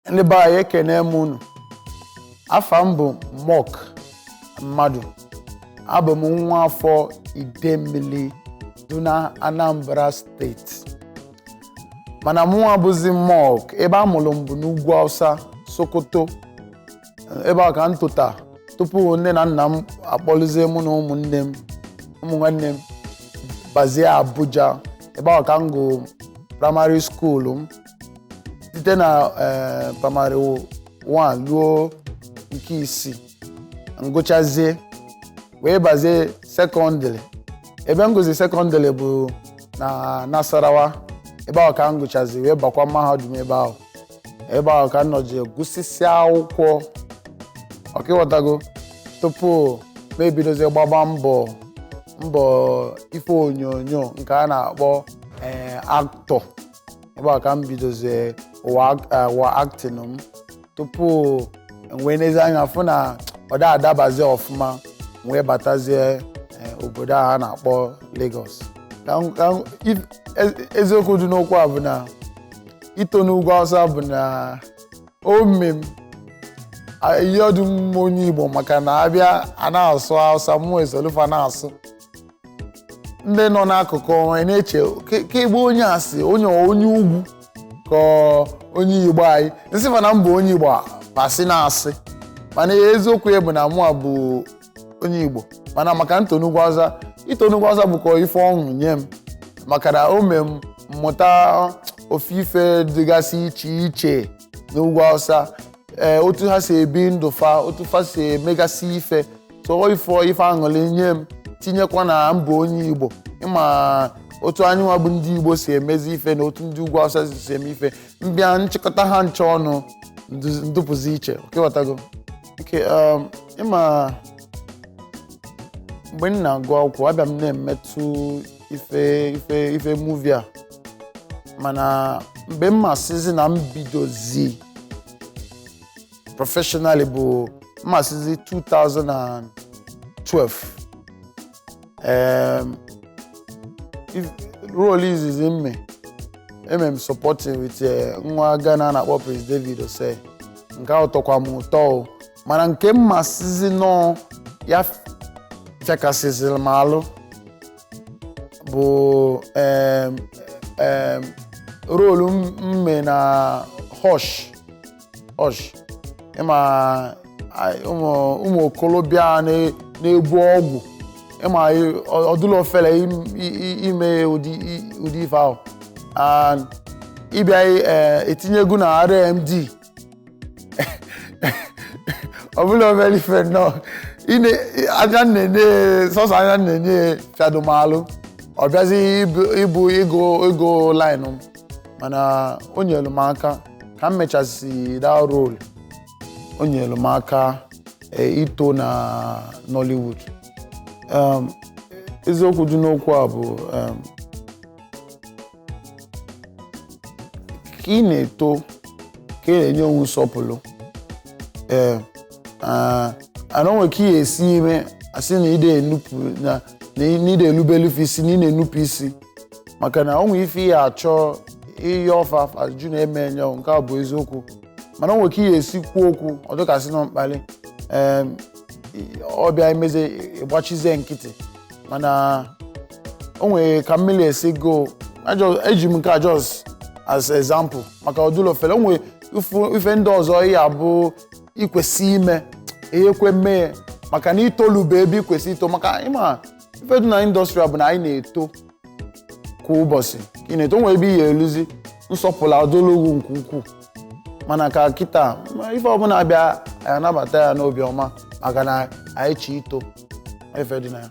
ndị be anyị ekene m unu afa m bụ moc madu abụ m nwa afọ idemmili dị na anambra steeti mana mụnwa bụzi moc ebe a mụrụ m bụ n'ugwu hausa sokoto ebe a ka m tota tupu nne na nna m akpọlụzie mụ na ụmụnne m ụmụ nwanne m bazie abuja ebe ahụ ka m gụ praịmarị skuulu m site na eh, praịmarị 1 ruo nke isii m gụchazie wee bazie sekọndịrị ebe m gụzi sekọndịrị bụ na nasarawa ebe ahụ ka m gụchazi wee bakwa mahadum ebe ahụ ebe ahụ ka m nọji gụsịsịa akwụkwọ ọkwa ị ghọtago tupu m ebidozie gbaba mbọ mbọ ife onyonyo nke a na-akpọ ee actor ebe a ka m bidozie ụwa ak- eh, ụwa acting m tupu m wee nezie anya fụ na ọ da adabazi ọfụma m wee batazie eh, obodo a a na-akpọ Lagos Ka m- ka m- if- e- eziokwu dị n'okwu a bụ na ito n'ugwu Hausa bụ na o me m a- ihe ọdụ m onye Igbo maka na abịa a na-asụ Hausa mụ esolu fa na-asụ ndị nọ n'akụkụ anyị na-eche "Ke- kee ebe onye a si onye onye ugwu ka ọ onye igbo anyị m sị fa na m bụ onye igbo a, fa sị na asị mana eziokwu ya bụ na mụ a bụ onye igbo mana maka m to n'ugwu awụsa ito n'ugwu awụsa bụkwa ife ọṅụ nye m maka na o mee m m mụta ofe ife dịgasị iche iche n'ugwu awụsa ee otu ha si ebi ndụ fa otu fa si emegasị ife ọ ife ife aṅụrị nye m tinyekwa na m bụ onye igbo ịma otu anyị nwa bụ ndị igbo si emezi ife na otu ndị ugwu awụsa si si eme ife m bịa chịkọta ha ncha ọnụ ndu- m dụpụzi iche ọkwa ị ghọtago nke um, ịma mgbe m na-agụ akwụkwọ abịa m na-emetụ ife ife ife movie a mana mgbe m ma-asịzi na m bidozi professionally bụ m ma-asịzi 2012 um, role izizi m me eme m supporting with eh, nwa Ghana a na-akpọ Prince David Osei nke ahụ tọkwa m ụtọ o mana nke m ma-asịzi na ọ ya fịakasịziri m alụ bụ em, em, role m m mee na Hush Hush ịma a- ụmụ ụmụ okorobịa na- na-ebu ọgwụ ịma ị- ọ- ọ dụlọ ọfele im- i- i- ime ụdị i- ụdị ife ahụ and ị bịa eh, etinyekwu na RMD ọ bụlọ obele ife nnọọ ine anya na-ene sọsọ anya na-ene chadomalụ ọ bịazi ịbụ- ịbụ ịgụ ịgụ line m mana o nyelu m aka ka m mechasị that role o nyelu m aka eh, ito na Nollywood Em, eziokwu dị n'okwu a bụ em, ka ị na-eto ka ị na-enye onwe nsọpụlụ ee and o nwe ka ị ya-esi eme a sị na ide enupụ na na ide elubelufe isi na ị na-enupụ isi maka na o nwe ife ị ya-achọ ihe ọfa ajụ na-eme enye ọ, nke a bụ eziokwu mana o nwe ka ị ya-esi kwuo okwu ọ dị ka a sị na mkpalị ee ọ bịa emezi ị gbachizie nkịtị mana o nwere ka m melisigo Ajọ- eji m nke a just as example maka ọ dụlọ ofele o nwere ifu- ife ndị ọzọ ya-abụ i kwesị ime ị ya-ekwe mee ya. maka na i tolube ebe i kwesị ito maka ị ma ife dị na industry bụ na anyị na-eto kwa ụbọchị ka ị na-eto o nwere ebe ị ya-eluzi nsọpụlụ adụlụ gị nke ukwuu mana ka kịta ma ife ọbụla bịa anyị anabata ya n'obi ọma maka na anyị chọ ito ife dị na ya